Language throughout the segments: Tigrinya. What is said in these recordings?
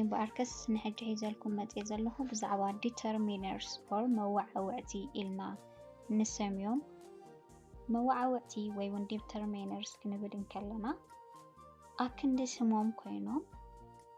እምበኣርከስ ንሕጂ ሒዘልኩም መፅየ ዘለኹ ብዛዕባ ዲተርሚነርስ ኦር መዋዓውዕቲ ኢልና ንሰምዮም መዋዓውዕቲ ወይ እውን ዲተርሚነርስ ክንብል እንከለና ኣብ ክንዲ ስሞም ኮይኖም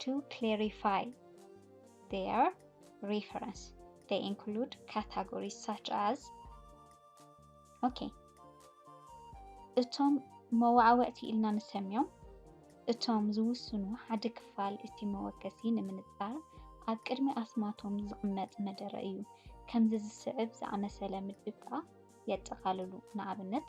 ቱ ክሌሪፋይ ዜር ሪፈረንስ they include categories such as ኦኬ እቶም መዋዕወዕቲ ኢልና ንሰምዮም እቶም ዝውስኑ ሓደ ክፋል እቲ መወከሲ ንምንጻር ኣብ ቅድሚ ኣስማቶም ዝቕመጥ መደረ እዩ። ከምዚ ዝስዕብ ዝኣመሰለ ምድብ ከኣ የጠቓልሉ። ንኣብነት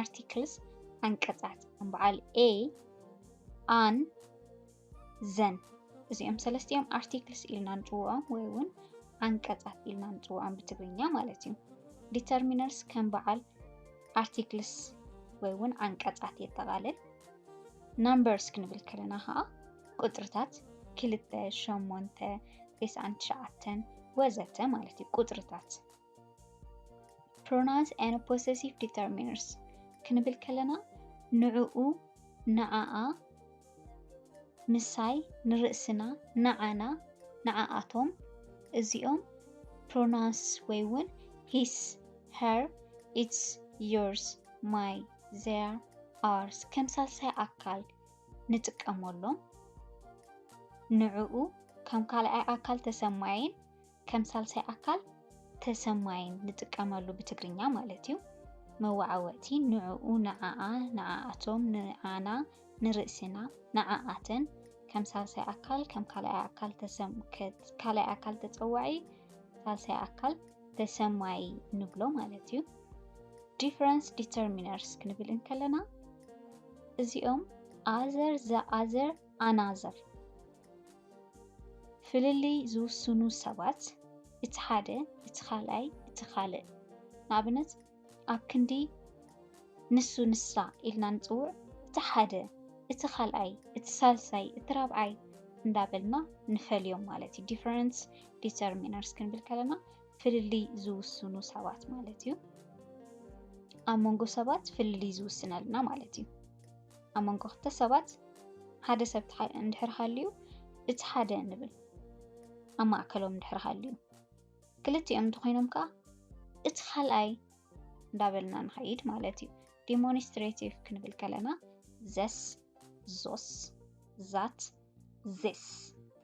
ኣርቲክልስ ዓንቀፃት ከም በዓል a ኣን ዘን እዚኦም ሰለስቲኦም ኣርቲክልስ ኢልና ንፅውዖም ወይ እውን ዓንቀፃት ኢልና ንፅውዖም ብትግርኛ ማለት እዩ። ዲተርሚነርስ ከም በዓል ኣርቲክልስ ወይ እውን ዓንቀፃት የጠቓልል። ናምበርስ ክንብል ከለና ከዓ ቁፅርታት ክልተ፣ ሸሞንተ፣ ቴስዓን ትሽዓተን ወዘተ ማለት እዩ ቁፅርታት ፕሮናውንስ ኤንድ ፖሰሲቭ ዲተርሚነርስ ክንብል ከለና ንዕኡ፣ ንዓኣ፣ ምሳይ፣ ንርእስና፣ ንዓና፣ ንዓኣቶም እዚኦም ፕሮናውንስ ወይ እውን ሂስ፣ ሀር፣ ኢትስ፣ ዮርስ፣ ማይ፣ ዘር፣ ኣርስ ከም ሳልሳይ ኣካል ንጥቀመሎም። ንዕኡ ከም ካልኣይ ኣካል ተሰማይን ከም ሳልሳይ ኣካል ተሰማይን ንጥቀመሉ ብትግርኛ ማለት እዩ። መወዓወዕቲ ንዕኡ፣ ንዓኣ፣ ንዓኣቶም፣ ንዓና፣ ንርእስና፣ ንዓኣተን ከም ሳልሳይ ኣካል ከም ካልኣይ ኣካል ካልኣይ ኣካል ተጸዋዒ ሳልሳይ ኣካል ተሰማይ ንብሎ ማለት እዩ። ዲፈረንስ ዲተርሚነርስ ክንብል እንከለና እዚኦም ኣዘር ዘ ኣዘር ኣናዘር ፍልልይ ዝውስኑ ሰባት እቲ ሓደ እቲ ካልኣይ እቲ ካልእ ንኣብነት ኣብ ክንዲ ንሱ ንሳ ኢልና ንጽውዕ እቲ ሓደ እቲ ካልኣይ እቲ ሳልሳይ እቲ ራብዓይ እንዳበልና ንፈልዮም ማለት እዩ ዲፈረንስ ዲተርሚነርስ ክንብል ከለና ፍልልይ ዝውስኑ ሰባት ማለት እዩ ኣብ መንጎ ሰባት ፍልልይ ዝውስነልና ማለት እዩ ኣብ መንጎ ክልተ ሰባት ሓደ ሰብ እንድሕር ሃልዩ እቲ ሓደ ንብል ኣብ ማእከሎም እንድሕር ሃልዩ ክልቲኦም እንተኾይኖም ከዓ እቲ ካልኣይ እንዳበልና ንኸይድ ማለት እዩ። ዲሞንስትሬቲቭ ክንብል ከለና ዘስ፣ ዞስ፣ ዛት፣ ዜስ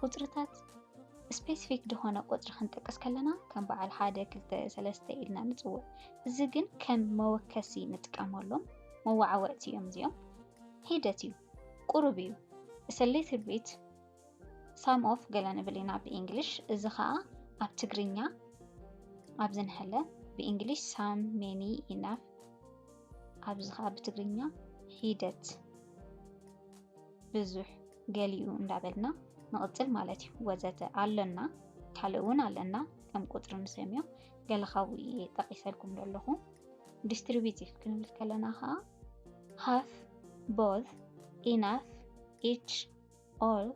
ቁጽርታት ስፔሲፊክ ዝኾነ ቁጽሪ ክንጠቅስ ከለና ከም በዓል ሓደ ክልተ ሰለስተ ኢልና ንጽውዕ እዚ ግን ከም መወከሲ ንጥቀመሎም መዋዓወዕቲ እዮም እዚኦም ሂደት እዩ ቁሩብ እዩ It's a little bit ሳም ኦፍ ገለ ንብል ኢና ብእንግሊሽ እዚ ከዓ ኣብ ትግርኛ ኣብ ዝንሐለ ብእንግሊሽ ሳም ሜኒ ኢናፍ ኣብዚ ከዓ ብትግርኛ ሂደት ብዙሕ ገሊኡ እንዳበልና ንቕጽል ማለት እዩ። ወዘተ ኣሎና ካልእ ውን ኣለና ከም ቁጽሪ ንሰምዮ ገለ ካብኡ እየ ጠቒሰልኩም ዘለኹ። ዲስትሪቢቲቭ ክንብል ከለና ከኣ ሃፍ፣ ቦዝ፣ ኢናፍ፣ ኢች፣ ኦል፣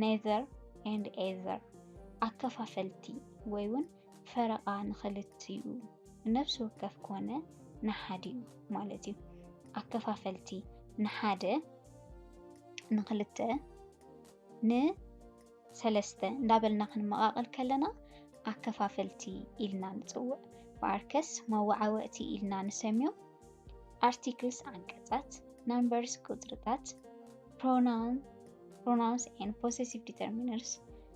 ኔዘር ኤንድ ኤዘር ኣከፋፈልቲ ወይ ውን ፈረቓ ንኽልቲኡ ንነፍሲ ወከፍ ኮነ ንሓዲኡ ማለት እዩ። ኣከፋፈልቲ ንሓደ፣ ንኽልተ፣ ንሰለስተ እንዳበልና ክንመቓቐል ከለና ኣከፋፈልቲ ኢልና ንጽውዕ። ብኣርከስ መወዓወዕቲ ኢልና ንሰምዮም። ኣርቲክልስ ዓንቀጻት፣ ናምበርስ ቁጽርታት፣ ፕሮናውንስ ኤን ፖሴሲቭ ዲተርሚነርስ